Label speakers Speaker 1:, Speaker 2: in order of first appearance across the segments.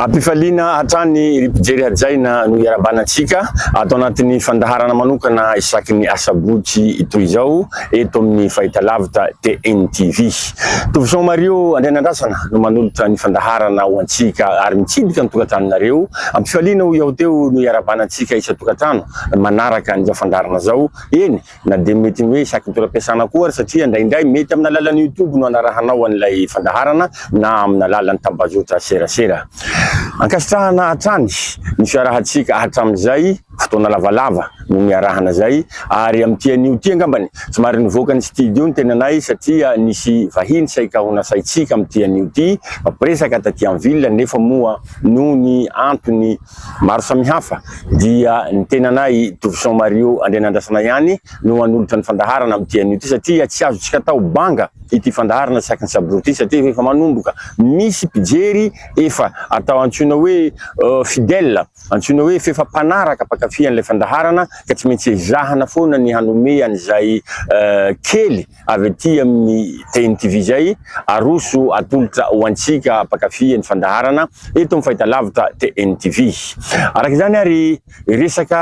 Speaker 1: Am-pifaliana hatrany ry mpijery hajaina no iarabana antsika ato anatin'ny fandaharana manokana isaky ny asabotsy toy izao eto amin'ny Fahitalavitra TN TV. Tovichon Mario Andrianandrasana no manolotra ny fandaharana ho antsika ary mitsidika ny tokantranonareo. Am-pifaliana hoy aho teo no iarabana antsika isan-tokantrano manaraka an'izao fandaharana izao. Eny Na dia mety ny hoe isaky ny toeram-piasana koa ary satria indraindray mety amin'ny alalan'ny YouTube no anarahanao an'ilay fandaharana na amin'ny alalan'ny tambazotra serasera. Ankasitrahana hatrany ny fiarahantsika hatramin'izay, fotoana lavalava no niarahana izay ary amin'ity anio ity angambany somary nivoaka ny studio ny tenanay satria nisy vahiny saika ho nasaintsika amin'ity anio ity mampiresaka taty en ville nefa moa noho ny antony maro samihafa dia ny tenanay Dovison Mario Andrianandrasana ihany no hanolotra ny fandaharana amin'ity anio ity satria tsy azontsika atao banga ity fandaharana tsy akin'i Sabro ity satria efa manomboka misy mpijery efa atao antsoina hoe fidèle, antsoina hoe f'efa mpanaraka mpankafy an'ilay fandaharana ka tsy maintsy ezahana foana ny hanome an'izay kely Avy aty amin'ny Tehiny TV izay, aroso atolotra ho antsika mpankafy ny fandaharana eto amin'ny fahitalavitra Tehiny TV. Araka izany ary, hiresaka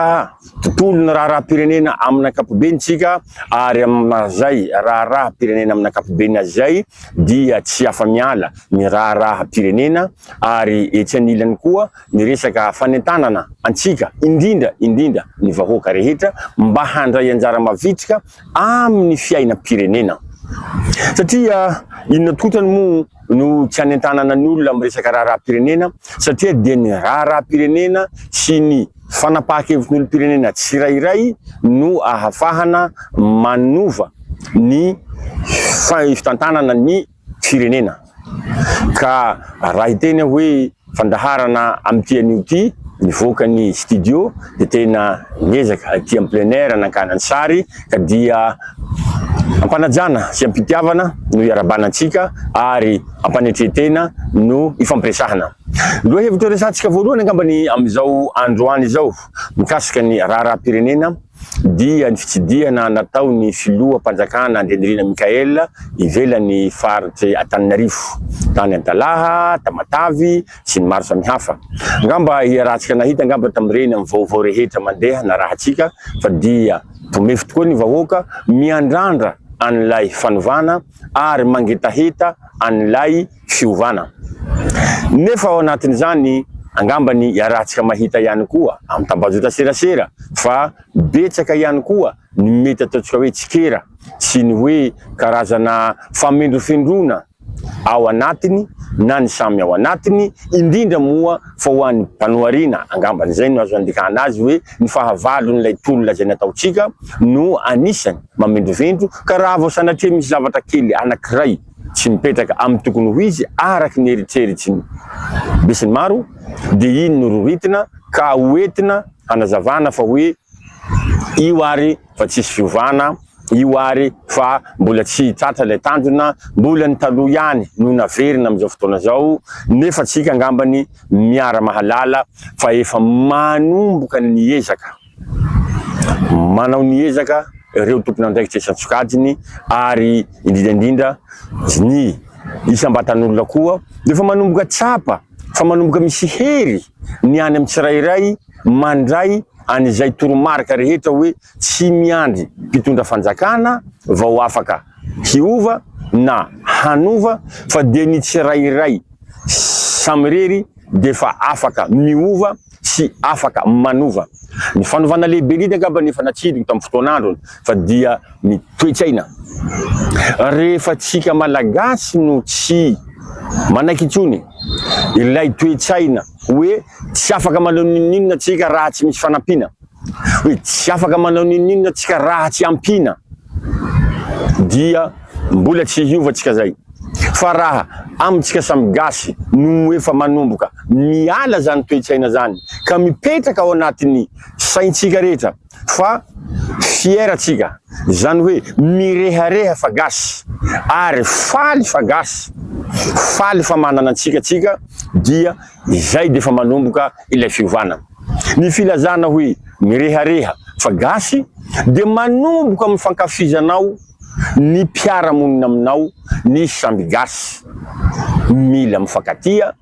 Speaker 1: tontolo ny raharaham-pirenena amin'ny ankapobeny isika ary amin'ny maha izay raharaham-pirenena amin'ny ankapobeny azy izay dia tsy afa-miala ny raharaham-pirenena ary etsy anilany koa ny resaka fanentanana antsika indrindra indrindra ny vahoaka rehetra mba handray anjara mavitrika amin'ny fiainam-pirenena. Satria inona tokoa otrany moa no tsy hanentanana ny olona amin'ny resaka raharaham-pirenena satria dia ny raharaham-pirenena sy ny fanapahan-kevitry ny olom-pirenena tsirairay no ahafahana manova ny fitantanana ny firenena ka raha hiteny aho hoe fandaharana amin'ity anio ity nivoaka ny studio dia tena niezaka aty amin'ny plein air nangana ny sary ka dia ampanajana sy ampitiavana no hiarabana antsika ary ampanetre-tena no hifampiresahana lohahevitra resahantsika voalohany angambany amin'izao androany izao mikasika ny raharaham-pirenena Dia ny fitsidihana nataon'ny filoham-panjakana Andrianirina Michael ivelan'ny faritr'i Antananarivo, tany Antalaha, Tamatavy sy ny maro samihafa. Angamba iarahantsika nahita angamba tamin'ireny amin'ny vaovao rehetra mandeha narahantsika fa dia tomefy tokoa ny vahoaka miandrandra an'ilay fanovana ary mangetaheta an'ilay fiovana. Nefa ao anatin'izany, angambany iarahantsika mahita ihany koa amin'ny tambajotra-tserasera fa betsaka ihany koa ny mety ataontsika hoe tsikera sy ny hoe karazana famendrofendroana ao anatiny na ny samy ao anatiny, indrindra moa fa ho an'ny Banoariana, angambany izay no azo andikana azy hoe ny fahavalon'ilay toro lazaina ataontsika no anisany mamendrovendro ka raha vao sanatria misy zavatra kely anankiray. tsy mipetraka amin'ny tokony ho izy araka ny eritreritsy ny besinimaro dia iny no roritina ka ho entina hanazavana fa hoe io ary fa tsisy fiovana io ary fa mbola tsy tratra ilay tanjona mbola ny taloha ihany no naverina amin'izao fotoana izao nefa tsika angambany miara-mahalala fa efa manomboka ny ezaka Manao ny ezaka ireo tompon'andraikitra isan-tsokajiny ary indrindra indrindra ny isam-batan'olona koa dia efa manomboka tsapa fa manomboka misy hery ny any amin'ny tsirairay mandray an'izay toromarika rehetra hoe tsy miandry mpitondra fanjakana vao afaka hiova na hanova fa dia ny tsirairay samirery dia efa afaka miova tsy afaka manova. Ny fanovana lehibe indrindra angamba ny efa natsidiko tamin'ny fotoan'androny fa dia ny toe-tsaina. Rehefa tsika Malagasy no tsy manaiky intsony ilay toe-tsaina hoe tsy afaka manao n'inon'inona tsika raha tsy misy fanampiana. Hoe tsy afaka manao n'inon'inona tsika raha tsy ampiana dia mbola tsy hiova tsika zay. Fa raha amintsika samy gasy no efa manomboka miala zany toe-tsaina zany ka mipetraka ao anatin'ny saintsika rehetra fa fier tsika, zany hoe mirehareha fa gasy ary faly fa gasy, faly fa manana antsika tsika dia zay defa manomboka ilay fiovana. Ny filazana hoe mirehareha fa gasy dia manomboka amin'ny fankafizanao ny mpiara-monina aminao ny samby gasy. Mila mifankatia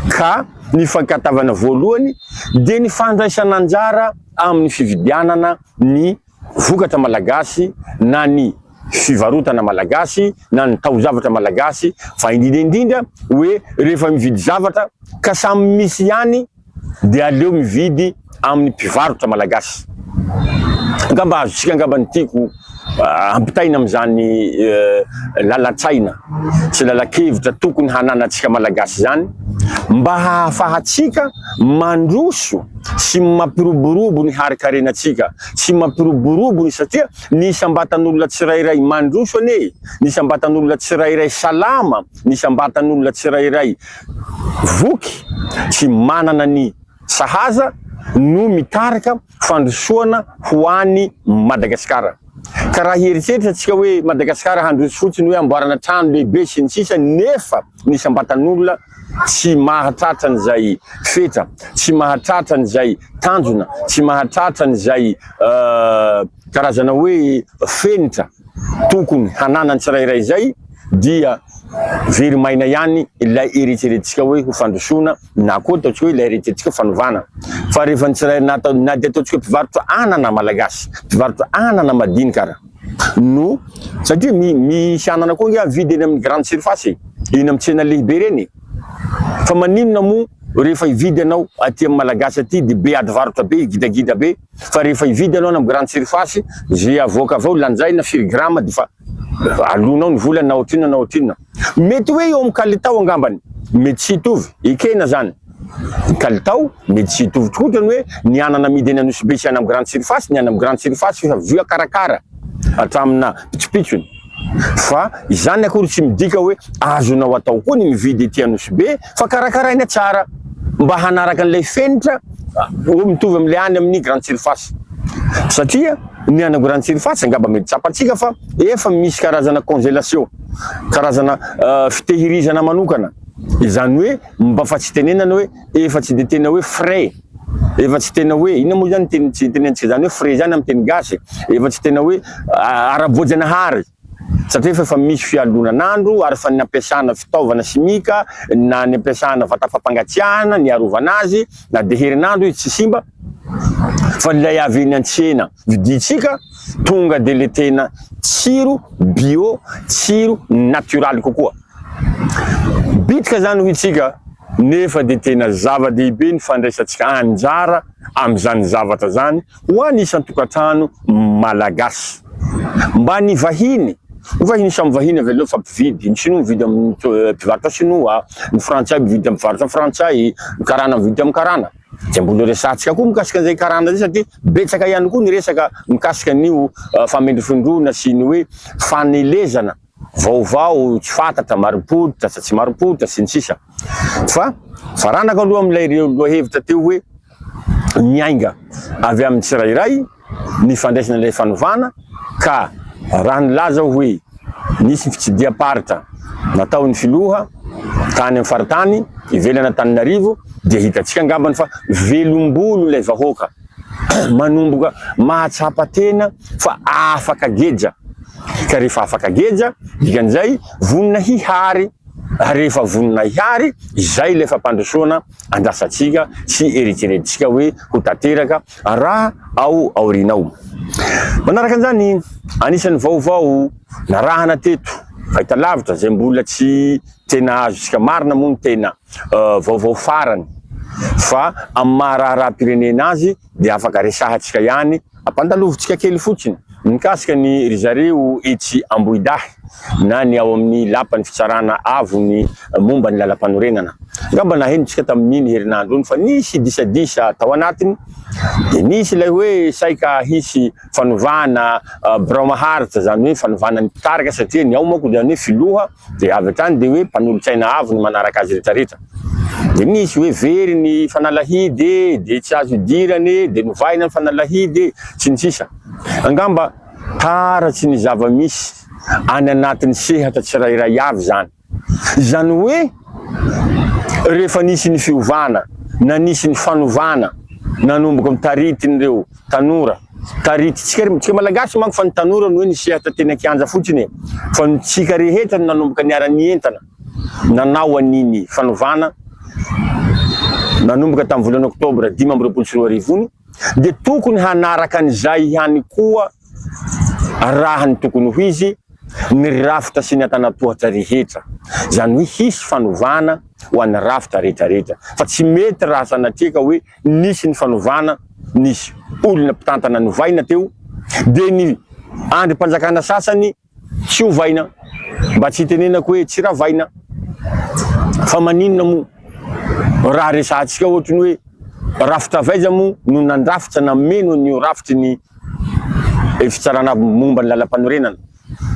Speaker 1: ka ny fankatavana voalohany dia ny fandraisana anjara amin'ny fividianana ny vokatra malagasy na ny fivarotana malagasy na ny taozavatra malagasy fa indrindra indrindra hoe rehefa mividy zavatra ka samy misy ihany dia aleo mividy amin'ny mpivarotra malagasy. Angamba azontsika angamba ny tiako ampitaina amin'izany lalan-tsaina sy lalan-kevitra tokony hananantsika malagasy izany mba hahafahantsika mandroso sy mampiroborobo ny harikarenantsika sy mampiroborobo ny satria ny isam-batan'olona tsirairay mandroso anie, ny isam-batan'olona tsirairay salama, ny isam-batan'olona tsirairay voky tsy manana ny sahaza no mitarika fandrosoana ho any Madagasikara. Ka raha hieritreritra tsika hoe Madagasikara handroso fotsiny hoe amboarana trano lehibe sy ny sisa nefa ny isam-batan'olona tsy mahatratra an'izay fetra, tsy mahatratra an'izay tanjona, tsy mahatratra an'izay Karazana hoe fenitra tokony hananan'ny tsirairay izay dia very maina ihany ilay eritreretintsika hoe ho fandrosoana na koa ataontsika hoe ilay eritreretintsika fanovana. Fa rehefa ny tsirairay na atao na dia ataontsika mpivarotra anana malagasy, mpivarotra anana madinika ara no satria mi misy anana koa ange amidy eny amin'ny grande surface e, eny amin'ny tsena lehibe ireny e. Fa maninona moa rehefa hividy ianao aty amin'ny malagasy aty dia be adivarotra be, gidagida be. Fa rehefa hividy ianao any amin'ny grande surface, izay avoaka avy ao lanjaina firy grama dia efa alonao ny vola na ohatrinona na ohatrinona. Mety hoe eo amin'ny kalitao angambany, mety tsy hitovy, ekena izany. Ny kalitao mety tsy hitovy tokoa ohatran'ny hoe ny anana amidy eny Anosibe sy any amin'ny grande surface, ny any amin'ny grande surface efa voakarakara hatramina pitsopitsony. Fa izany akory tsy midika hoe azonao atao koa ny mividy ety Anosibe. fa karakaraina tsara mba hanaraka an'ilay fenitra mitovy amin'ilay any amin'ny grande surface. Satria ny any grande surface angamba mety tsapantsika fa efa misy karazana congelation, karazana uh, fitehirizana manokana. Izany hoe mba fa tsy tenenana hoe efa tsy dia tena hoe frais efa tsy tena hoe inona moa zany teny tsy tenenantsika zany hoe frais zany amin'ny teny gasy efa tsy tena hoe uh, ara-boajanahary Satria fa efa misy fialonan'andro ary fa ny ampiasana fitaovana simika na ny ampiasana vata fampangatsiahana ny hiarovana azy na dia herinandro izy tsy simba fa ilay avy eny an-tsena vidintsika tonga dia le tena tsiro bio tsiro natioraly kokoa bitika izany hoy isika nefa dia tena zava-dehibe ny fandraisantsika anjara amin'izany zavatra izany Ho an'ny isan-tokantrano Malagasy. Mba ny vahiny, ho vahiny samy vahiny avy aleo fa mpividy, ny sinoa mividy amin'ny mpivarotra sinoa, ny frantsay mividy amin'ny mpivarotra frantsay, ny karana mividy amin'ny karana. Dia mbola ho resahantsika koa mikasika an'izay karana izay satria betsaka ihany koa ny resaka mikasika an'io famendrofendroana sy ny hoe fanelezana. vaovao tsy fantatra, marim-pototra sa tsy marim-pototra, sy ny sisa Fa faranako aloha amin'ilay lohahevitra teo hoe miainga avy amin'ny tsirairay ny fandraisana ilay fanovana ka raha nilaza aho hoe nisy fitsidiham-paritra nataon'ny filoha tany amin'ny faritany ivelan'Antananarivo dia hitantsika angambany fa velom-bolo ilay vahoaka. manomboka mahatsapa tena fa afaka geja, ka rehefa afaka geja, dikan'izay vonona hihary, ary rehefa vonona hihary, izay ilay fampandrosoana andrasantsika sy eritreretintsika hoe ho tanteraka raha ao aoriana ao. Manaraka an'izany, anisan'ny vaovao narahana teto, fahitalavitra izay mbola tsy Tena azontsika marina moa ny tena vaovao farany fa amin'ny maha raharaham-pirenena azy dia afaka resahantsika ihany. Ampandalovintsika kely fotsiny mikasika ny ry zareo etsy Ambohidahy na ny ao amin'ny lapan'ny fitsarana avo ny momba ny lalampanorenana. Angamba nahenontsika tamin'iny herinandro iny fa nisy disadisa tao anatiny dia nisy ilay hoe saika hisy fanovana birao maharitra izany hoe fanovana ny mpitarika satria ny ao manko izany hoe filoha Dia avy hatrany dia hoe mpanolotsaina avo ny manaraka azy retraretra. Dia misy hoe very ny fanalahidy e, dia tsy azo idirana e, dia novahina ny fanalahidy e, sy ny sisa Angamba taratsy ny zava-misy any anatin'ny sehatra tsirairay avy izany. Izany hoe rehefa nisy ny fiovana na nisy ny fanovana nanomboka ny taritin'ireo. Tanora. Taritintsika re, tsika malagasy manko fa ny tanora no hoe nisehatra teny an-kianja fotsiny e! Fa ny tsika rehetra no nanomboka niara-nientana nanao an'iny fanovana nanomboka tamin'ny volana oktobra dimy amby roapolo sy roa arivo iny dia tokony hanaraka an'izay ihany koa raha ny tokony ho izy ny rafitra sy ny antanatohatra rehetra. Izany hoe hisy fanovana ho an'ny rafitra rehetra rehetra fa tsy mety raha sanatria ka hoe Nisy ny fanovana, nisy olona mpitantana novaina teo, dia ny andrim-panjakana sasany tsy ovaina, mba tsy hitenenako hoe tsy ravaina, fa maninona moa raha resahantsika ohatry ny hoe rafitra avy aiza moa no nandrafitra nameno an'io rafitry ny fitsarana momba ny lalam-panorenana.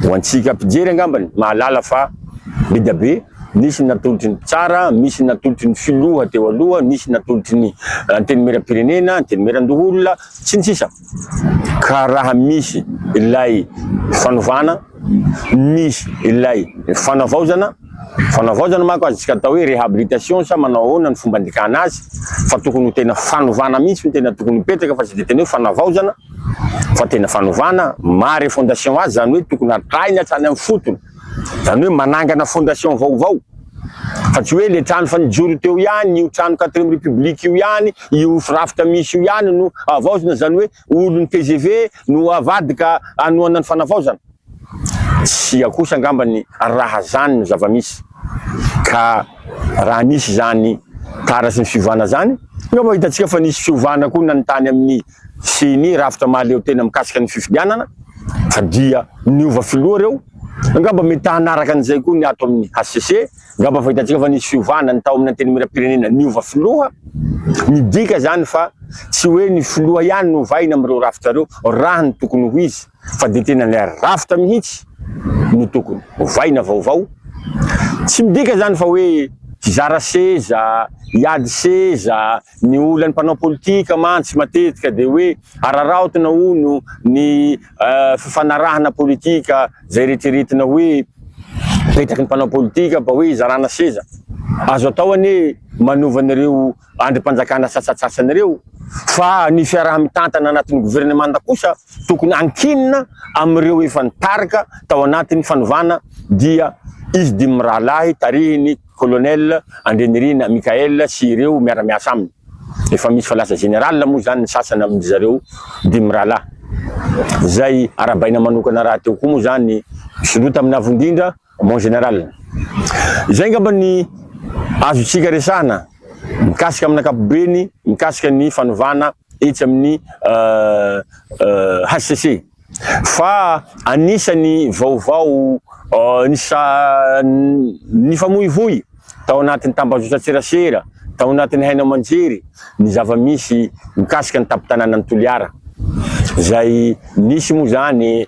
Speaker 1: Ho antsika mpijery angambany mahalala fa be dia be, nisy ny natolotry ny mpitsara, misy ny natolotry ny filoha teo aloha, nisy ny natolotry ny antenimieram-pirenena, antenimieran-doholona, sy ny sisa Ka raha misy ilay fanovana, misy ilay fanavaozana, Fanavaozana manko azontsika atao hoe rehabilitation sa manao ahoana ny fomba andikana azy fa tokony ho tena fanovana mihitsy no tena tokony hipetraka fa tsy dia tena hoe fanavaozana fa tena fanovana, maha refondation azy izany hoe tokony hatrahina hatrany amin'ny fotony, izany hoe manangana fondation vaovao fa tsy hoe ilay trano efa nijoro teo ihany, io trano quatrième république io ihany, io firafitra misy io ihany no havaozina izany hoe olon'ny tgv no havadika hanohana ny fanavaozana? Tsia kosa angambany raha zany no zava-misy. Ka raha nisy zany tara sy ny fiovana zany, angamba hitantsika fa nisy fiovana koa nany tany amin'ny ceni, rafitra mahaleo tena mikasika ny fifidianana, fa dia niova filoha reo, angamba mety hanaraka an'izay koa ny ato amin'ny hcc. Ngamba fa hitantsika fa nisy fiovana ny tao amin'ny antenimieram-pirenena niova filoha, midika izany fa tsy hoe ny filoha ihany no ovaina amin'ireo rafitra ireo raha ny tokony ho izy fa dia tena ilay rafitra mihitsy no tokony ovaina vaovao. Tsy midika izany fa hoe hizara seza, hiady seza, ny olan'ny mpanao politika mantsy matetika dia hoe araraotina hono ny fifanarahana politika izay eritreretina hoe petraky ny mpanao politika mba hoe zarana seza. Azo atao anie manova an'ireo andrim-panjakana sasatsasany ireo fa ny fiaraha-mitantana anatin'ny governemanta kosa tokony hankinina amin'ireo efa nitarika tao anatin'ny fanovana dia izy dimy mirahalahy tarihin'ny Colonel Andrianirina Michael sy ireo miara-miasa aminy. Efa misy fa lasa Général moa izany ny sasany amin-dry zareo dimy mirahalahy. Izay arahabaina manokana rahateo koa moa izany Soloa tamin'ny Avo Indrindra, Mon Général. Izay angamba ny azontsika resahana mikasika amin'ny ankapobeny mikasika ny fanovana etsy amin'ny hcc. Fa anisan'ny vaovao nifamoivoy tao anatin'ny tambazotran-tserasera tao anatin'ny haino aman-jery ny zava-misy mikasika ny tampon-tanànan'i Toliara, izay nisy moa izany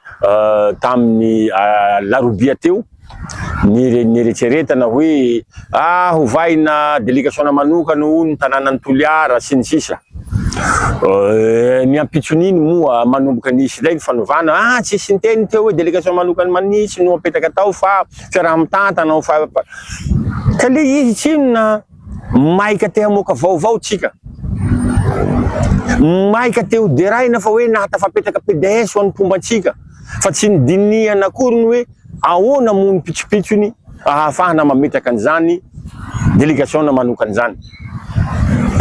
Speaker 1: tamin'ny alarobia teo. nieretseretana hoe ah hovahina delikasiona manokana ho ny tanànan'i Toliara sy ny sisa eh, ny ampitson'iny moa manomboka nisy ilay ny fanovana ah tsisy niteny teo hoe delikasiona manokana manitsy no apetaka tao fa fiaraha-mitantana ho fa ka le izy tsinona maika te hamoaka vaovao tsika maika te ho deraina fa hoe nahatafapetraka PDS ho an'ny mpomba antsika fa tsy ny dinihana akory ny hoe Ahoana moa ny pitsopitsony ahafahana mametraka an'izany delegasiona manokana izany?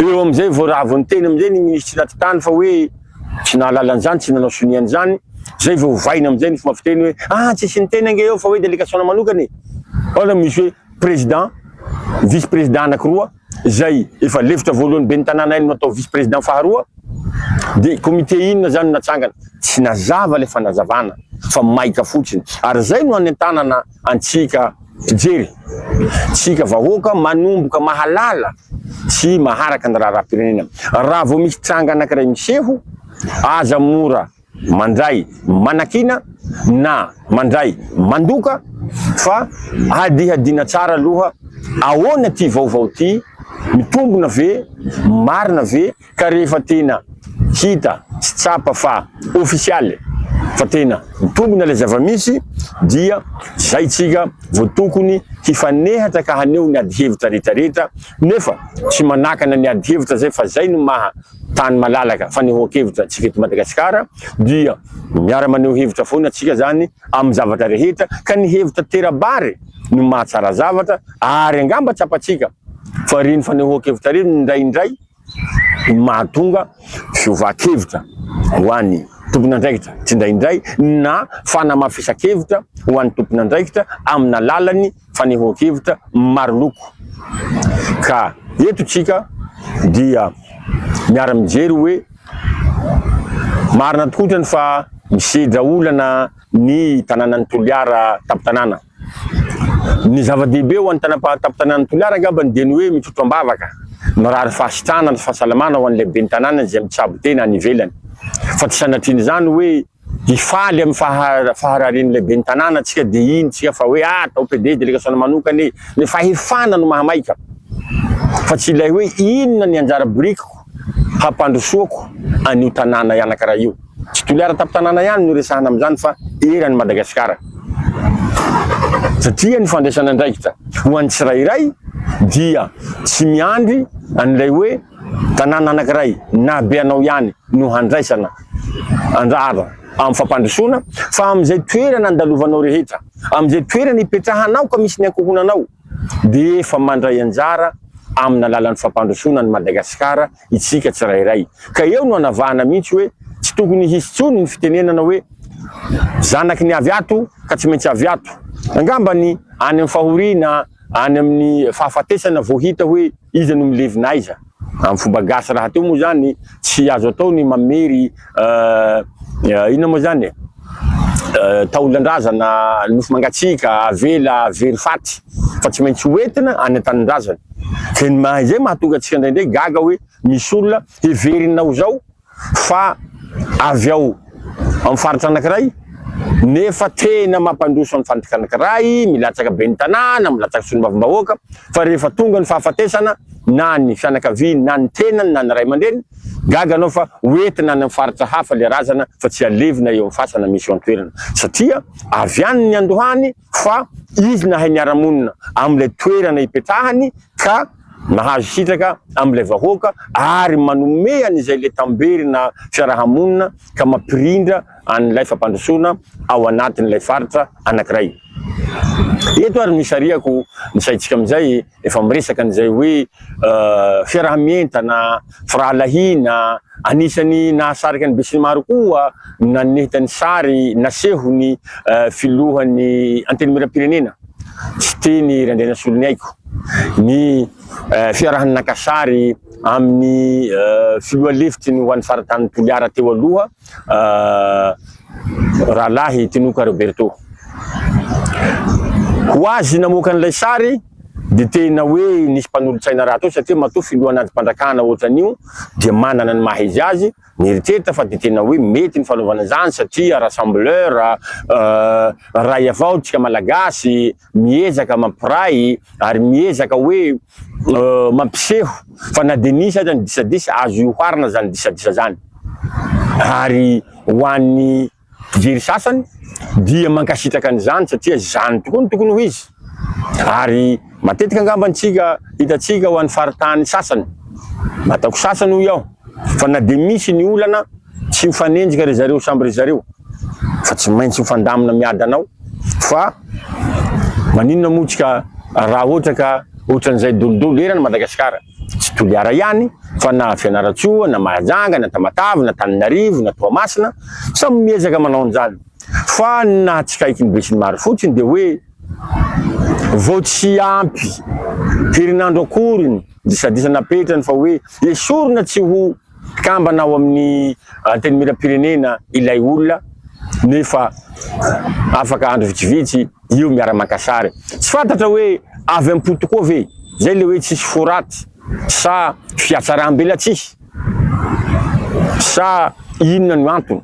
Speaker 1: Eo amin'izay vao raviny teny amin'izay ny minisitry ny atitany fa hoe tsy nahalala an'izany, tsy nanao sonia an'izany, izay vao ovaina amin'izay ny fomba fiteny hoe ah tsy asiany teny ange eo fa hoe delegasiona manokana e! Ahoana misy hoe president, vice president anakiroa? izay efa lefitra voalohany ben'ny tanàna hay no atao vice président faharoa dia comité inona izany no natsangana? tsy nazava ilay fanazavana fa maika fotsiny ary izay no hanentanana antsika mpijery tsika vahoaka manomboka mahalala sy maharaka ny raharaham-pirenena raha vao misy tranga anankiray miseho aza mora mandray manakiana na mandray mandoka fa hadihadiana tsara aloha ahoana ity vaovao ity, mitombona ve, marina ve ka rehefa tena hita sy tsapa fa ofisialy fa tena mitombona ilay zava-misy dia izay tsika vao tokony hifanehatra ka haneho ny adi-hevitra rehetra rehetra nefa tsy manakana ny adi-hevitra izay fa izay no maha tany malalaka fanehoan-kevitra antsika eto Madagasikara dia miara maneho hevitra foana antsika zany amin'ny zavatra rehetra ka ny hevitra tera-bary no mahatsara zavatra ary angamba tsapantsika fa ireny fanehoan-kevitra ireny indraindray no mahatonga fiovan-kevitra ho an'ny tompon'andraikitra tsindraindray na fanamafisan-kevitra ho an'ny tompon'andraikitra amin'ny alalan'ny fanehoan-kevitra maro loko. Ka eto tsika dia miara-mijery hoe marina tokoa trany fa misedra olana ny tananan'i Toliara tampon-tanàna. Ny zava-dehibe ho an'ny tanam-tampon-tanànan'i Toliara angambany dia ny hoe mitrotro am-bavaka, mirary fahasitrana sy fahasalamana ho an'ilay ben'ny tanàna izay mitsabo tena any ivelany. Fa tsy sanatrian'izany hoe. Hifaly amin'ny faha-fahararin'ny lehiben'ny tanàna antsika dia hino tsika fa hoe ah atao PD delegasiona manokana e! Ilay fahefana no mahamaika fa tsy ilay hoe inona ny anjara birikiko hampandrosoako an'io tanàna anankiray io. Tsy Toliara tampon-tanàna ihany no resahana amin'izany fa eran'i Madagasikara satria ny fandraisana andraikitra ho an'ny tsirairay dia tsy miandry an'ilay hoe Tanàna anankiray na be anao ihany no handraisana anjara amin'ny fampandrosoana, fa amin'izay toerana andalovanao rehetra, amin'izay toerana ipetrahanao ka misy ny ankohonanao, dia efa mandray anjara amin'ny alalan'ny fampandrosoana an'i Madagasikara isika tsirairay. Ka eo no anavahana mihitsy hoe tsy tokony hisy intsony ny fitenenana hoe zanaky ny avy ato ka tsy maintsy avy ato. Angamba ny any amin'ny fahoriana, Any amin'ny fahafatesana vao hita hoe iza no milevina aiza. Amin'ny fomba gasy rahateo moa izany tsy azo atao ny mamery inona moa izany e? taolan-drazana, nofo mangatsiaka, avela, very faty fa tsy maintsy ho entina any an-tanindrazana. Izay mahatonga antsika indraindray gaga hoe misy olona heverina ho izao fa avy ao amin'ny faritra anankiray nefa tena mampandroso ny fandraika anankiray, milatsaka ben'ny tanàna, milatsaka solombavambahoaka, fa rehefa tonga ny fahafatesana na ny fianakaviany na ny tenany na ny ray aman-dreniny, gaga anao fa ho entina any amin'ny faritra hafa ilay razana fa tsy halevina eo amin'ny fasana misy eo an-toerana satria avy any ny andohany, fa izy nahay niara-monina amin'ilay toerana ipetrahany ka nahazo sitraka amin'ilay vahoaka ary manome an'izay letamberina fiaraha-monina ka mampirindra an'ilay fampandrosoana ao anatin'ilay faritra anankiray. Eto ary no isarihako ny saintsika amin'izay Efa miresaka an'izay hoe fiaraha-mientana, firahalahiana. Anisan'ny nahasarika ny besinimaro koa ny naneta ny sary nasehon'ny filohan'ny Antenimierampirenena, Siteny Randrianasoloniaiko, ny fiarahany naka sary amin'ny filoha lefitry ny ho an'ny faritanin'i Toliara teo aloha, Rahalahy Tinoka Roberto. Ho azy namoaka an'ilay sary dia tena hoe nisy mpanolo-tsaina rahateo satria matoa filoha anati-pandrakana ohatran'io dia manana ny maha izy azy, nieritreritra fa dia tena hoe mety ny fanaovana izany satria rassembleur, iray avao tsika Malagasy. miezaka mampiray ary miezaka hoe mampiseho fa na dia nisy aza ny disadisa azo ioharina izany disadisa izany ary ho an'ny mpijery sasany dia mankasitraka an'izany satria izany tokoa no tokony ho izy ary matetika angamba antsika hitantsika ho an'ny faritany sasany ataoko sasany hoy aho fa na dia misy ny olana Tsy mifanenjika ry zareo samby ry zareo fa tsy maintsy mifandamina miady anao fa maninona moa tsy ka raha ohatra ka ohatran'izay dolidolo eran Madagasikara tsy Toliara ihany fa na Fianarantsoa na Mahajanga na Tamatave na Taninarivo na Toamasina samy miezaka manao an'izany fa ny nahatsikaiky ny besinimaro fotsiny dia hoe vao tsy ampy herinandro akoriny disadisa napetrany fa hoe esorina tsy ho Mpikambana ao amin'ny Antenimierampirenena ilay olona nefa afaka andro vitsivitsy eo miara-maka sary. Tsy fantatra hoe avy am-po tokoa ve izay ilay hoe tsisy fo ratsy sa fihatsaram-belatsihy sa inona no antony.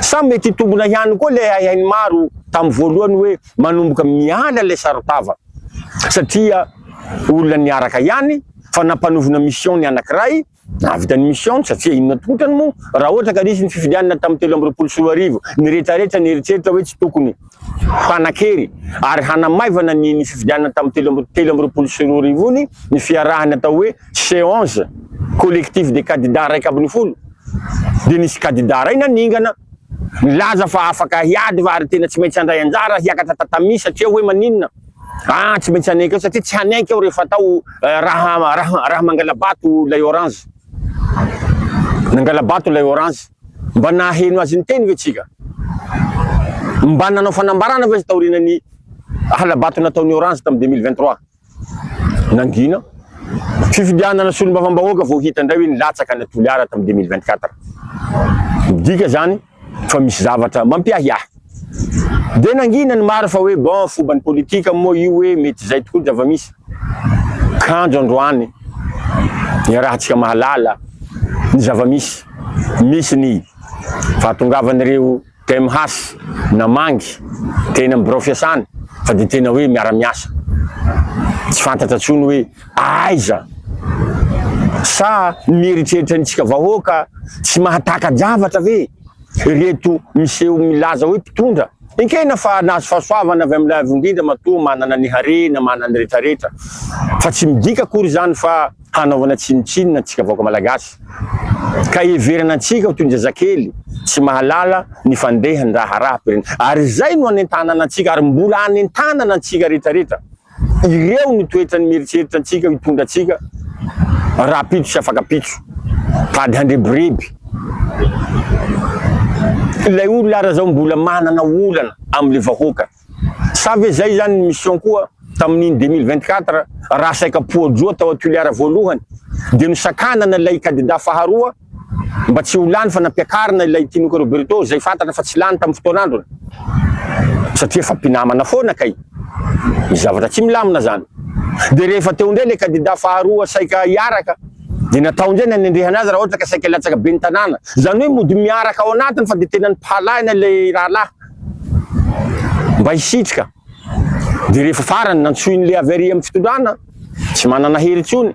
Speaker 1: Sa mety hitombina ihany koa ilay haihain'ny maro tamin'ny voalohany hoe manomboka miala ilay saron-tava satria olona niaraka ihany fa nampanovina mission ny anankiray Nahavita ny mission-ny satria inona tokoa otrany moa raha ohatra ka nisy ny fifidianana tamin'ny telo amby roapolo sy roa arivo, niretraretra, nieritreritra hoe tsy tokony hanan-kery ary hanamaivana ny ny fifidianana tamin'ny telo amby telo amby roapolo sy roa arivo ny ny fiarahany atao hoe seance collectif des candidats iraika ambin'ny folo dia nisy kandida iray naningana nilaza fa afaka hiady fa ary tena tsy maintsy handray anjara hiakatra tatami satria hoe maninona Aa tsy maintsy hanaiky aho satria tsy hanaiky aho rehefa atao raha raha raha mangalabato ilay orange nangalabato ilay orange mba naheno azy niteny ve tsika mba nanao fanambarana ve taoriana ny halabato nataon'ny orange tamin'ny 2023 nangina fifidianana solombavambahoaka vao hita indray hoe nilatsaka ny toliara tamin'ny 2024 midika zany fa misy zavatra mampiahiahy. Dia nangina ny maro fa hoe bon foban'ny politika moa io hoe mety izay tokoa ny zava-misy. Kanjo androany iarahantsika mahalala ny zava-misy. Misy ny fahatongavan'ireo TMH namangy teny amin'ny birao fiasana fa dia tena hoe miara-miasa. Tsy fantatra intsony hoe. Aiza? Sa mieritreritra antsika vahoaka tsy mahataka-javatra ve ireto miseho milaza hoe mpitondra? Ekena fa nahazo fahasoavana avy amin'Ilay Avo Indrindra matoa manana ny harena manana ny rehetrarehetra, fa tsy midika akory izany fa hanaovana tsinontsinona antsika vahoaka malagasy, ka hiheverana antsika ho toy ny zazakely tsy mahalala ny fandehan'ny raharaham-pirenena. Ary izay no anentanana antsika ary mbola anentanana antsika rehetrarehetra. Ireo no toetra ny mieritreritra antsika hitondra antsika rahampitso sy afakampitso. Tady handrebireby. Ilay olona ary zao mbola manana olana amin'ilay vahoaka. Sa ve zay zany ny mission koa tamin'iny deux mille vingt quatre raha saika poa-droa tao Tulear voalohany dia nosakanana ilay kandida faharoa? Mba tsy ho lany fa nampiakarina ilay Tinoka Roberto izay fantatra fa tsy lany tamin'ny fotoan'androny. Satria efa mpinamana foana kay. Misy zavatra tsy milamina izany. Dia rehefa teo indray ilay kandida faharoa saika hiaraka dia natao indray ny hanendrehana azy raha ohatra ka saika hilatsaka ben'ny tanàna. Izany hoe mody miaraka ao anatiny fa dia tena nipalahina ilay rahalahy mba hisitrika. Dia rehefa farany nantsoin'i Leavery amin'ny fitondrana, tsy manana hery intsony.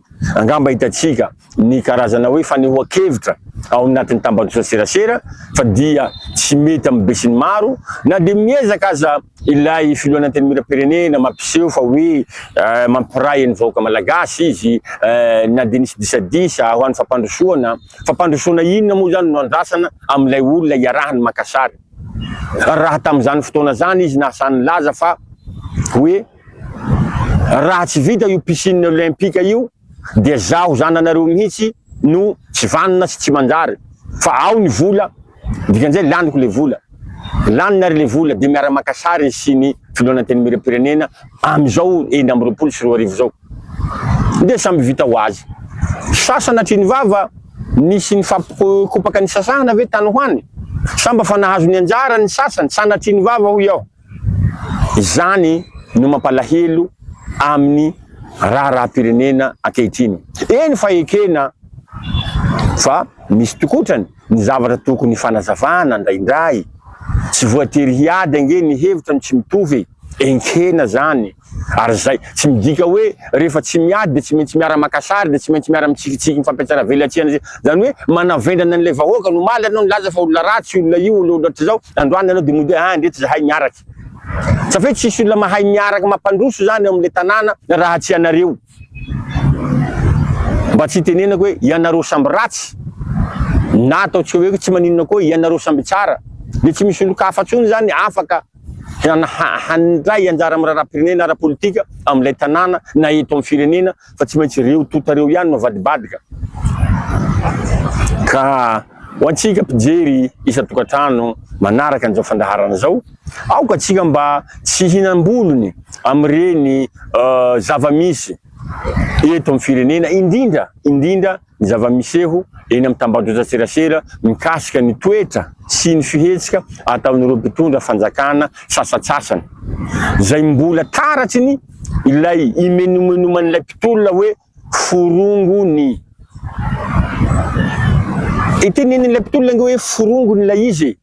Speaker 1: Angamba hitantsika ny karazana hoe fanehoan-kevitra ao anatin'ny tambajotran-tserasera fa dia tsy mety amin'ny besinimaro na dia miezaka aza ilay filohan'ny Antenimierampirenena mampiseho fa hoe mampiray ny vahoaka malagasy izy na dia nisy disadisa ho an'ny fampandrosoana. Fampandrosoana inona moa izany no andrasana amin'ilay olona iarahany maka sary raha tamin'izany fotoana izany izy nahasa nilaza fa hoe Raha tsy vita io piscine olympique io dia zaho zananareo mihitsy no tsy vanona sy tsy manjary fa ao ny vola dikan'izay laniko le vola. Laniny ary le vola dia miara maka sary izy sy ny filohan'ny antenimieram-pirenena amin'izao enina amby roapolo sy roa arivo izao dia samby vita ho azy. Sasana hatry ny vava nisy nifampikopaka nisasahana ve tany ho any? Sa mba fa nahazo ny anjarany ny sasany? Sanatria ny vava hoy aho. Izany no mampalahelo amin'ny raharaham-pirenena ankehitriny. Eny fa ekena fa misy tokotrany ny zavatra tokony fanazavana indraindray. Tsy voatery hiady ange ny hevitra no tsy mitovy e! Enkena zany. Ary izay, tsy midika hoe rehefa tsy miady dia tsy maintsy miara-maka sary, dia tsy maintsy miara-mitsikitsiky ny fampiantsara vely aty an'izay. Izany hoe manavendrana an'ilay vahoaka no omaly ianao nilaza fa olona ratsy io olona io, olona ohatr'izao, androany ianao dia mody hoe ah ndretsy izahay miaraka. Sa ve tsisy olona mahay miaraka mampandroso izany ao amin'ilay tanàna raha tsy ianareo? Mba tsy hitenenako hoe ianareo samby ratsy, na ataontsika hoe tsy maninona koa ianareo samby tsara, dia tsy misy olon-kafa intsony izany afaka handray anjara amin'ny raharaham-pirenena ara-politika amin'ilay tanàna na eto amin'ny firenena fa tsy maintsy ireo tonta ireo ihany no avadibadika. Ka ho antsika mpijery isan-tokantrano manaraka an'izao fandaharana izao, aoka antsika mba tsy hinam-bolony amin'ireny zava-misy eto amin'ny firenena, indrindra indrindra ny zava-miseho eny amin'ny tambajotran-tserasera mikasika ny toetra sy ny fihetsika ataon'ireo mpitondra fanjakana sasantsasany, izay mbola taratry ny ilay imenomenoman'ilay mpitolona hoe forongo ny. Itenenen'ilay mpitolona ange hoe forongo ny ilay izy e!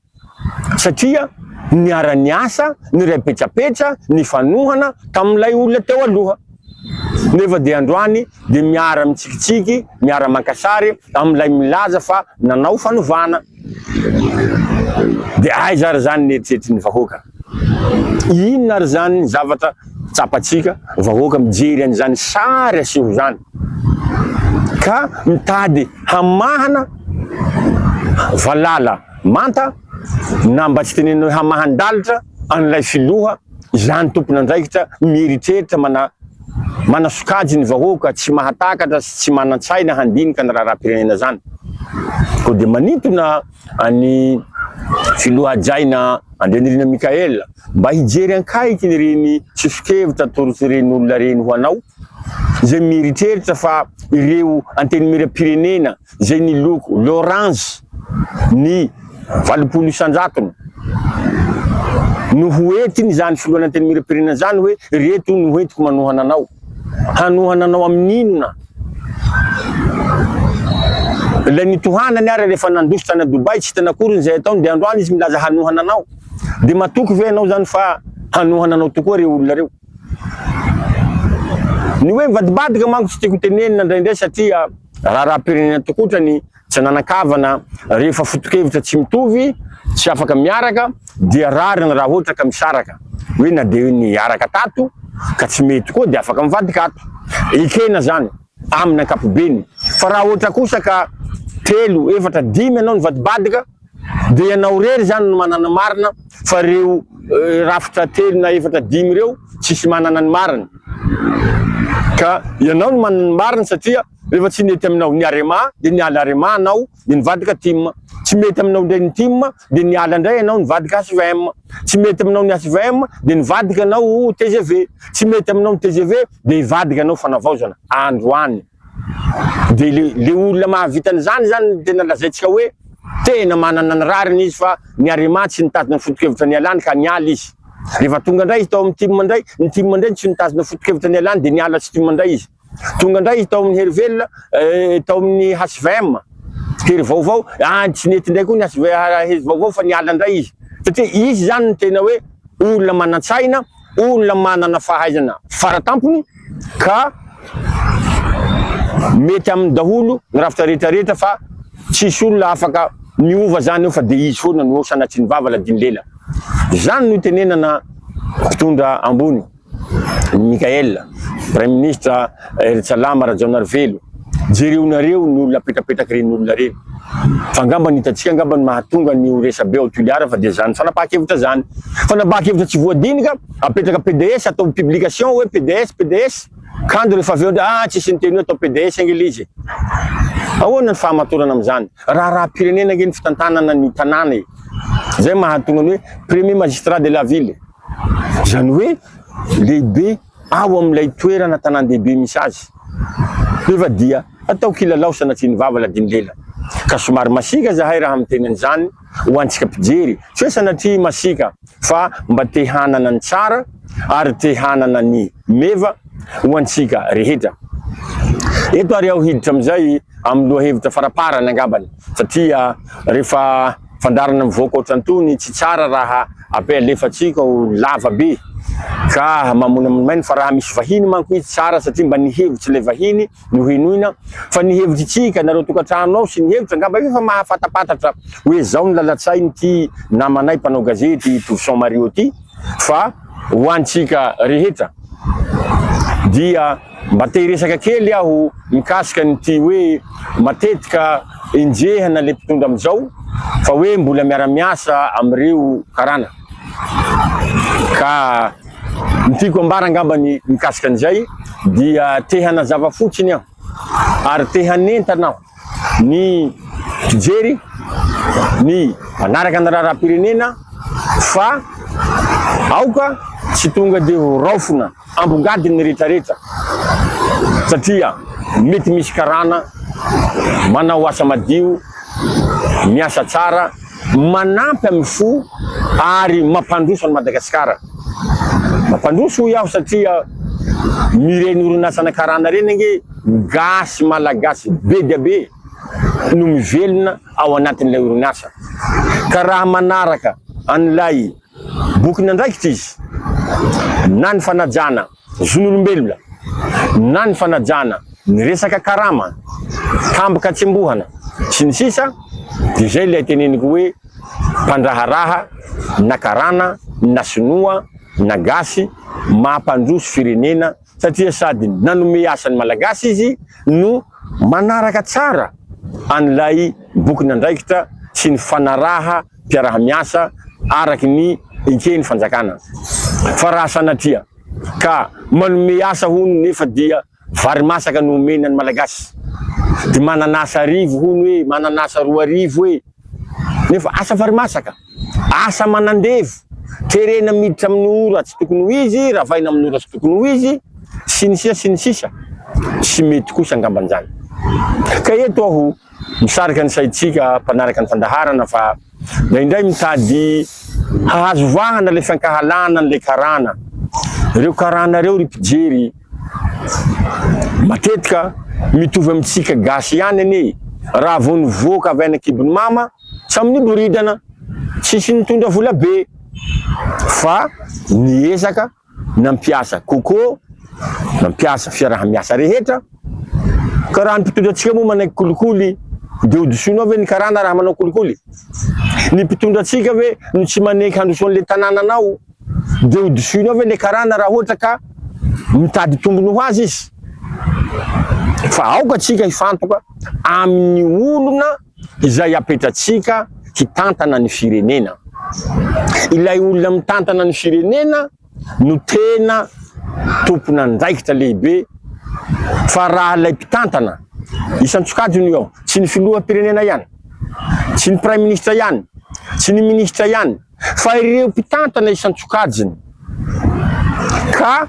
Speaker 1: satria niara-niasa, niray petrapetra, nifanohana tamin'ilay olona teo aloha, nefa dia androany dia miara-mitsikitsiky, miara-maka sary amin'ilay milaza fa nanao fanovana. Dia aiza ary izany ny eritreritry ny vahoaka? Inona ary izany zavatra tsapantsika vahoaka mijery an'izany sary aseho izany ka mitady hamahana valala manta na mba tsy tenenina hoe hamahan-dalitra an'ilay filoha izany tompon'andraikitra mieritreritra manasokajy ny vahoaka tsy mahatakatra sy tsy manan-tsaina handinika ny raharaham-pirenena izany? Koa dia manintona An'i Filoha Hajaina Andrianirina Michael, mba hijery ankaiky ireny soso-kevitra atoron'ireny olona ireny ho anao, izay mieritreritra fa ireo Antenimieram-pirenena izay niloko loranjy ny valopolo isan-jatony no ho entin'izany Filohan'Antenimieram-pirenena izany hoe ireto no entiko manohana anao. Hanohana anao amin'inona? Ilay nitohanany ary rehefa nandroso tany a Dubaï tsy hitany akory ny izay ataony dia androany izy milaza hanohana anao. Dia matoky ve ianao izany fa hanohana anao tokoa ireo olona ireo? Ny hoe mivadibadika manko tsy tiako tenenina indraindray satria raharaham-pirenena tokoa ohatra ny Tsy nanan-kavana rehefa foto-kevitra tsy mitovy, tsy afaka miaraka dia rariny raha ohatra ka misaraka. Hoe na dia niaraka tato ka tsy mety koa dia afaka mivadika ato. Ekena izany amin'ny ankapobeny. Fa raha ohatra kosa ka telo, efatra, dimy ianao nivadibadika dia ianao irery izany no manana marina fa ireo rafitra telo na efatra, dimy ireo tsisy manana ny marina. Ka ianao no manana ny marina satria. Rehefa tsy nety aminao ny Arema dia niala Arema anao dia nivadika Tim. Tsy mety aminao indray ny Tim dia niala indray anao nivadika HVM. Tsy mety aminao ny HVM dia nivadika anao tgv. Tsy mety aminao ny tgv dia hivadika anao Fanavaozana androany. Dia le le olona mahavita an'izany izany no tena lazaintsika hoe tena manana ny rariny izy fa ny Arema tsy nitazona ny foto-kevitra nialany ka niala izy. Rehefa tonga indray izy tao amin'ny Tim indray, ny Tim indray no tsy nitazona foto-kevitra nialany dia niala tsy Tim indray izy. Tonga indray izy tao amin'ny Hery Velona, tao amin'ny HVM, Hery Vaovao, any tsy nety indray koa ny Hery Vaovao fa niala indray izy. Satria izy izany no tena hoe olona manan-tsaina, olona manana fahaizana fara tampony ka mety aminy daholo ny rafitra rehetra rehetra fa tsisy olona afaka miova izany eo fa dia izy foana no eo sanatrian'ny vava ladino lela. Izany no itenenana mpitondra ambony. I Mickaël, Praiminisitra Hery Salama Rajaonarivelo, jereonareo ny olona apetrapetraky reny olona reny. Fa angamba ny hitantsika angamba ny mahatonga ny ho resabe ao Toliara fa dia zany fanapahan-kevitra zany. Fanapahan-kevitra tsy voadinika, apetraka PDS atao publication hoe PDS, PDS. Kanjo rehefa avy eo ndray ah tsisy niteny hoe atao PDS ange le izy e. Ahoana ny fahamatorana amin'izany? Raharaham-pirenena ange ny fitantanana ny tanàna e. Zay mahatonga ny hoe Premier Magistrat de la Ville. Izany hoe lehibe ao amin'ilay toerana tanàn-dehibe misy azy. Nefa dia ataoko hilalao sanatria ny vava ladino lela. Ka somary masiaka izahay raha miteny an'izany ho antsika mpijery, tsy hoe sanatria masiaka fa mba te hanana ny tsara ary te hanana ny meva ho antsika rehetra. Eto ary aho hiditra amin'izay amin'ny lohahevitra faraparany angambany satria rehefa. Fandaharana mivoaka ohatrantony tsy tsara raha ape alefatsika ho lava be ka mamonamonomaina fa raha misy vahiny manko izy tsara satria mba ny hevitry ilay vahiny no henoina fa ny hevitry tsika nareo tokatrano ao sy ny hevitra angamba efa mahafatapatatra hoe zao ny lalatsainy ty namanay mpanao gazety Touvson Mario ty fa ho antsika rehetra dia Mba te hiresaka kely aho mikasika an'ity hoe matetika enjehina le mpitondra amzao fa hoe mbola miara miasa amreo karana ka ny tiako ambara angambany mikasika an'izay dia te hanazava fotsiny aho ary te hanentana aho ny mpijery, ny mpanaraka ny raharaham-pirenena fa aoka tsy tonga dia ho raofina ambongadiny ny rehetra rehetra satria mety misy karana manao asa madio, miasa tsara. Manampy amin'ny fo ary mampandroso an'i Madagasikara. Mampandroso hoy aho satria mireny orinasana karana ireny ange gasy malagasy be dia be no mivelona ao anatin'ilay orinasa. Ka raha manaraka an'ilay bokin'andraikitra izy na ny fanajana zon'olombelona na ny fanajana ny resaka karama, tampoka tsembohana, sy ny sisa dia izay ilay teneniko hoe mpandraharaha na karana na sinoa na gasy maha mpandroso firenena satria sady nanome asa ny malagasy izy no manaraka tsara an'ilay bokin'andraikitra sy ny fanaraha mpiaraha-miasa araka ny eken'ny fanjakana. Fa raha sanatria ka manome asa hono nefa dia vary masaka no omena ny Malagasy. Dia manan'asa arivo hono e, manan'asa roa arivo e. Nefa asa vary masaka, asa manandevo, terena miditra amin'ny ora tsy tokony ho izy, ravaina amin'ny ora tsy tokony ho izy, sy ny sisa sy ny sisa. Tsy mety kosa angamba izany. Ka eto aho Misarika ny saintsika mpanaraka ny fandaharana fa indraindray mitady hahazo vahana ilay fiankahalana an'ilay karana. Ireo karana ireo ry mpijery matetika mitovy amintsika gasy ihany anie e! Raha vao nivoaka avy any an-kibon'i mama, samy niboridana, tsisy nitondra vola be fa niezaka. Nampiasa Coco, nampiasa fiaraha-miasa rehetra, ka raha ny mpitondra antsika moa manaiky kolikoly dia hodisonao ve ny karana raha manao kolikoly? Ny mpitondra antsika ve no tsy manaiky handroso an'ilay tanànanao dia hodisonao ve ilay karana raha ohatra ka mitady tombony ho azy izy? Fa aoka antsika hifantoka amin'ny olona. Izay apetratsika hitantana ny firenena. Ilay olona mitantana ny firenena no tena tompon'andraikitra lehibe fa raha ilay mpitantana, isan-tsokajiny io an, tsy ny filoham-pirenena ihany, tsy ny praiminisitra ihany, tsy ny minisitra ihany fa ireo mpitantana isan-tsokajiny ka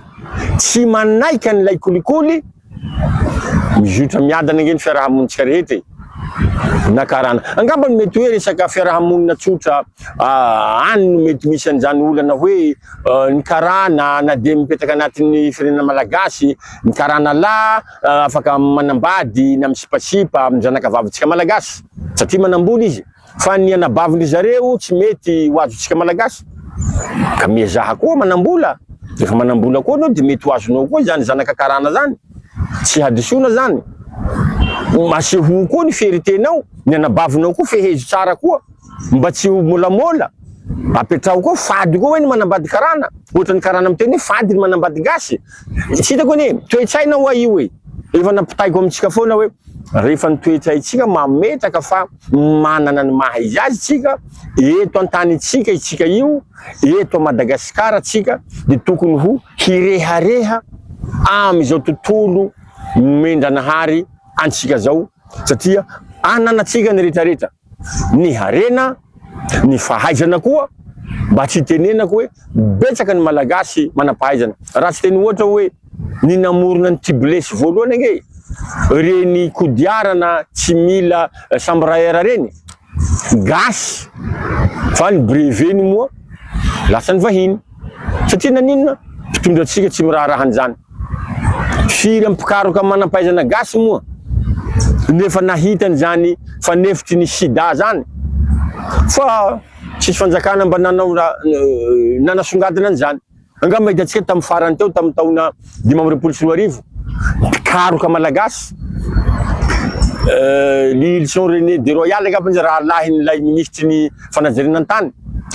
Speaker 1: tsy manaiky an'ilay kolikoly, Mizotra miadana ange ny fiaraha-monintsika rehetra e! Na karana. Angambany mety hoe resaka fiaraha-monina tsotra any no mety misy an'izany olana hoe ny karana na dia mipetraka anatin'ny firenena malagasy, ny karana lahy afaka manambady na misipasipa amin'ny zanakavavintsika malagasy satria manam-bola izy. Fa ny anabavin-dry zareo tsy mety ho azontsika Malagasy. Ka miezaha koa manam-bola. Rehefa manam-bola koa ianao dia mety ho azonao koa izany zanaka karana izany. Tsy hadisoana izany. Asehoy koa ny fieritenao. Ny anabavinao koa fehezo tsara koa mba tsy ho môlamôla. Apetraho koa fady koa hoe ny manambady karana. Ohatra ny karana miteny hoe fady ny manambady gasy. Tsy hitako anie. Toe-tsaina ho'a io e. Efa nampitaiko amintsika foana hoe rehefa ny toe-tsaintsika mametraka fa. Manana ny maha izy azy tsika eto antanintsika itsika io eto Madagascar tsika de tokony ho hirehareha amizao tontolo nomen-dranahary antsika zao satria ananatsika ny retraretra ny harena ny fahaizana koa mba tsy itenenako oe betsaka ny malagasy manampahaizana raha tsy teny ohatra oe ny namorona ny Tubeless voalohany ange reny kodiarana tsy mila chambre à air reny gasy fa ny brevet ny moa lasa ny vahiny satria naninona mpitondra antsika tsy miraharaha an'izany firy am mpikaroka manampahaizana gasy moa no efa nahita an'izany fanefitry ny sida zany fa tsisy fanjakana mba nanao nanasongadina an'izany Angamba hitantsika tamin'ny farany teo tamin'ny taona dimy amby roapolo sy roa arivo, mpikaroka malagasy, Lihilison René de Royal angamba izy, rahalahin'ilay minisitry ny fanajariana ny tany,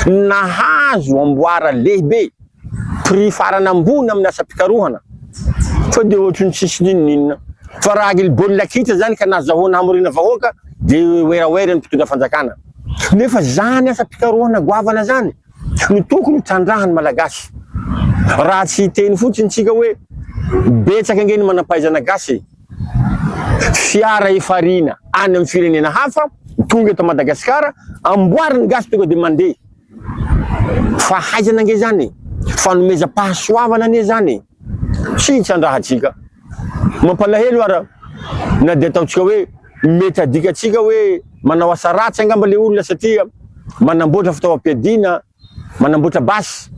Speaker 1: nahazo amboara lehibe, prix farany ambony amin'ny asam-pikarohana, sao dia ohatry ny tsisy n'inon'inona. Fa raha ny baolina kitra izany ka nazahoana hamoriana vahoaka dia werawera ny mpitondra fanjakana. Nefa izany asam-pikarohana goavana izany, Tsy ny toko no trandrahan'ny Malagasy. Raha tsy hiteny fotsiny tsika hoe betsaka ange ny manampahaizana gasy e! Fiara efarina any amin'ny firenena hafa tonga eto Madagasikara amboarin'ny gasy tonga dia mandeha. Fahaizana ange izany e! Fanomezam-pahasoavana anie izany e! Tsy hitrandrahantsika. Mampalahelo ara na dia ataontsika hoe mety adikantsika hoe manao asa ratsy angamba ilay olona satria manamboatra fitaovam-piadiana, manamboatra basy.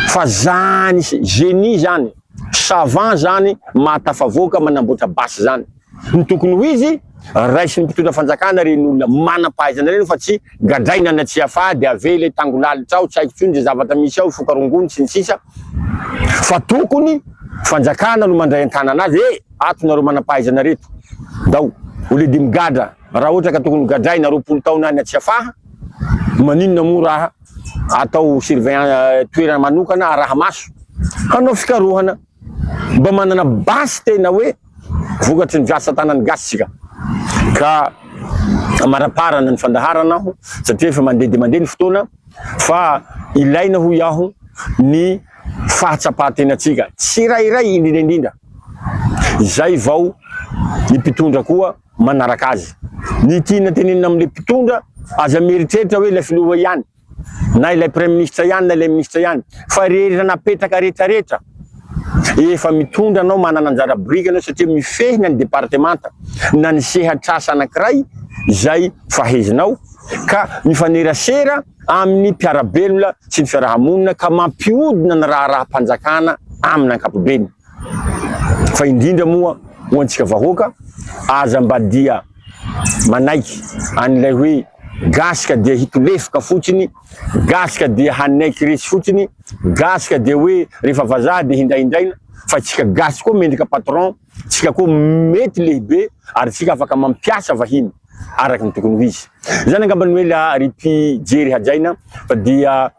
Speaker 1: Fa zany génie zany, savant zany mahatafavoaka manamboatra basy zany. Ny tokony ho izy, raisin'ny mpitondra fanjakana ary ny olona manam-pahaizana ireny fa tsy gadraina any Tsiafahy dia avela eny Tangolalitra ao, tsy haiko intsony izay zavatra misy ao, Ifoka rongony sy ny sisa, fa tokony fanjakana no mandray an-tanana azy, eh! ato nareo manam-pahaizana reto, ndao au lieu de migadra, raha ohatra ka tokony ho gadraina roapolo taona any Tsiafahy, maninona moa raha atao surveillance toerana manokana araha-maso hanao fikarohana. Mba manana basy tena hoe vokatry ny asa tanan'ny gasy isika ka amaraparana ny fandaharana aho satria efa mandeha dia mandeha ny fotoana fa ilaina hoy aho ny fahatsapahan-tenantsika tsirairay indrindra indrindra izay vao ny mpitondra koa manaraka azy. Ny tiana tenenina amin'ilay mpitondra, aza mieritreritra hoe ilay filoha ihany. na ilay praiministra ihany na ilay ministra ihany fa rehetra napetraka rehetrarehetra efa mitondra anao manana anjara boriky anao satria mifehina ny departemanta na ny sehatrasa anankiray izay fahezinao ka mifanerasera amin'ny mpiarabelona sy ny fiarahamonina ka mampiodina ny raharaham-panjakana amin'ny ankapobeny fa indrindra moa ho antsika vahoaka aza mba dia manaiky an'ilay hoe gasy ka dia hitolefoka fotsiny, gasy ka dia hanaiky resy fotsiny, gasy ka dia hoe rehefa vazaha dia hindrahindraina, fa tsika gasy koa mendrika patron, tsika koa mety lehibe ary tsika afaka mampiasa vahiny araka ny tokony ho izy. Izany angamba no ela ry mpijery hajaina fa dia.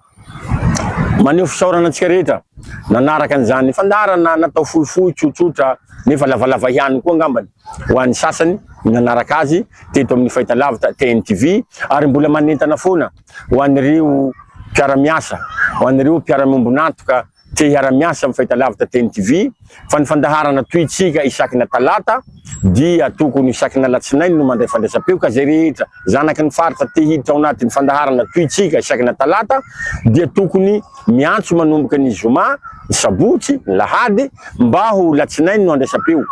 Speaker 1: Maneho fisaorana antsika rehetra nanaraka an'izany fandaharana natao fohifohy, tsotsotra nefa lavalava ihany koa angambany ho an'ny sasany ny nanaraka azy teto amin'ny fahitalavitra TNTV ary mbola manentana foana ho an'ireo mpiara-miasa, ho an'ireo mpiara-miombon'antoka Te hiara-miasa amin'ny fahitalavitra Teny TV fa ny fandaharana tohintsika isakina talata dia tokony isakina alatsinainy no mandray fandraisam-peo ka izay rehetra zanaky ny faritra te hiditra ao anatin'ny fandaharana tohintsika isakina talata dia tokony miantso manomboka ny zoma, ny sabotsy, ny lahady mba ho latsinainy no andraisam-peo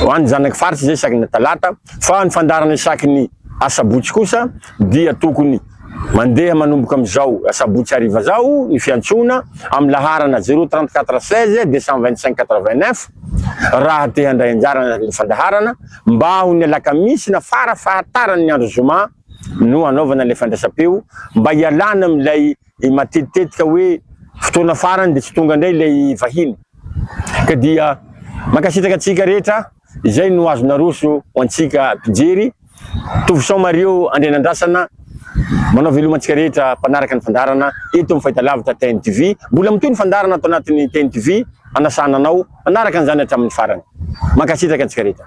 Speaker 1: ho an'ny zanaky faritra izay isakina talata fa ny fandaharana isakiny asabotsy kosa dia tokony. Mandeha manomboka amin'izao asabotsy hariva izao ny fiantsoana amin'ny laharana zéro trente quatre seize deux cent vingt cinq quatre vingt neuf raha te handray anjara anatin'ny fandaharana mba ho ny alakamisy na fara fahataran'ny andro zoma no hanaovana ilay fandraisam-peo mba hialana amin'ilay matetitetika hoe fotoana farany dia tsy tonga indray ilay vahiny ka dia mankasitraka antsika rehetra. Izay no azo naroso ho antsika mpijery. Tovo Sao Mario Andrianandrasana manao veloma antsika rehetra mpanaraka ny fandaharana eto amin'ny Fahitalavitra TNTV. Mbola mitohy ny fandaharana ato anatin'ny TNTV, hanasana anao hanaraka an'izany hatramin'ny farany. Mankasitraka antsika rehetra.